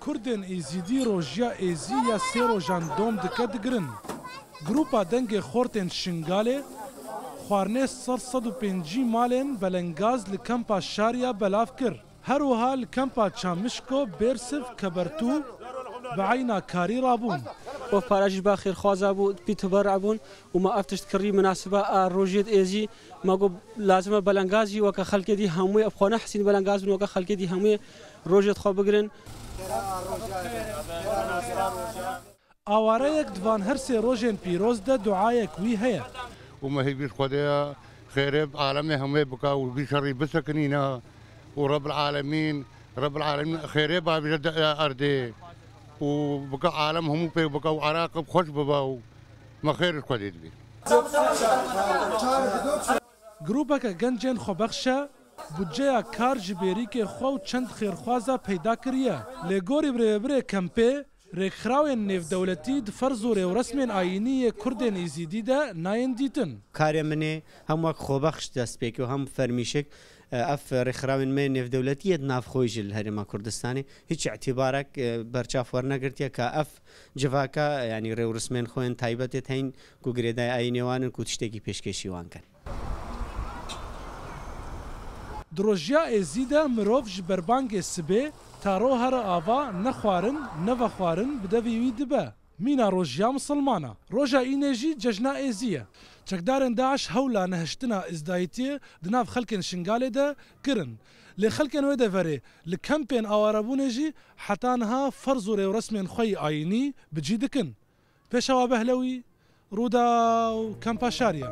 Kurdên Êzidî rojiya êzî ya sê rojan dom dike digirin. Grûpa Dengê Xort ên Şingalê xwarinê sed sed û pêncî malên belengaz li kempa Şariya belav kir. Her wiha li kempa Çamişko, Bêrsiv, Kebertû bi eyna karî rabûn. Ev para jî ba xêrxwaza bû, pî tubera bûn û ma ev tişt kirî minasiba a rojê di ê zî ma got lazim e belengaz jî weke xelkê dî hemûyê ev xwe nehesîn belengaz bin weke xelkê dî hemûyê rojê di xwe bigirin. Awareyek di van her sê rojên pîroz de duayek wî heye. Û me hî bîst Xwedeya xêrê bi alemê hemûyê bika û vî şerî bisekinîne û Rebil Alemîn Rebil Alemîn xêrê bavêje di erdê û bika alem hemû pêk bika û Iraqê bi xweş bibe û Me xêr li Xwedê dibî. Grûpeke gencên xwebexşe budceya kar ji bêrîkê xwe û çend xêrxwaza peyda kiriye. Lê gorî bi rêvebirê kempê, rêkxrawên nêvdewletî di ferz û rêwresmên ayînî yê kurdên Îzîdî de nayên dîtin. Karê min ê hem wek xwebexş dest pê ke û hem fermîşik. Ev rêkxrawên me yên nêvdewletî yê di nav xwe yî ji li Herêma Kurdistanê hîç îtîbarek berçav wernegirtiye ka ev Civaka yanî rêwrismên xwe yên taybet ê tên ku girêdayî ayînê wan in ku tiştekî pêşkêşî wan kin. Di rojiya êzî de mirov ji berbangê sibê ta ro here ava ne xwarin ne vexwarin bi devî wî dibe. Mîna rojiya misilman e. Roja înê jî cejna êzî ye. Çekdarên DAIŞ hewla nehiştina îzdayîtiyê di nav xelkên Şingalê de kirin. Lê xelkên wê deverê li kempên awarebûnê jî heta niha ferz û rêwresmên xwe yî ayînî bi cî dikin. Pêşewa Behlewî, Rûdaw, Kempa Şariye.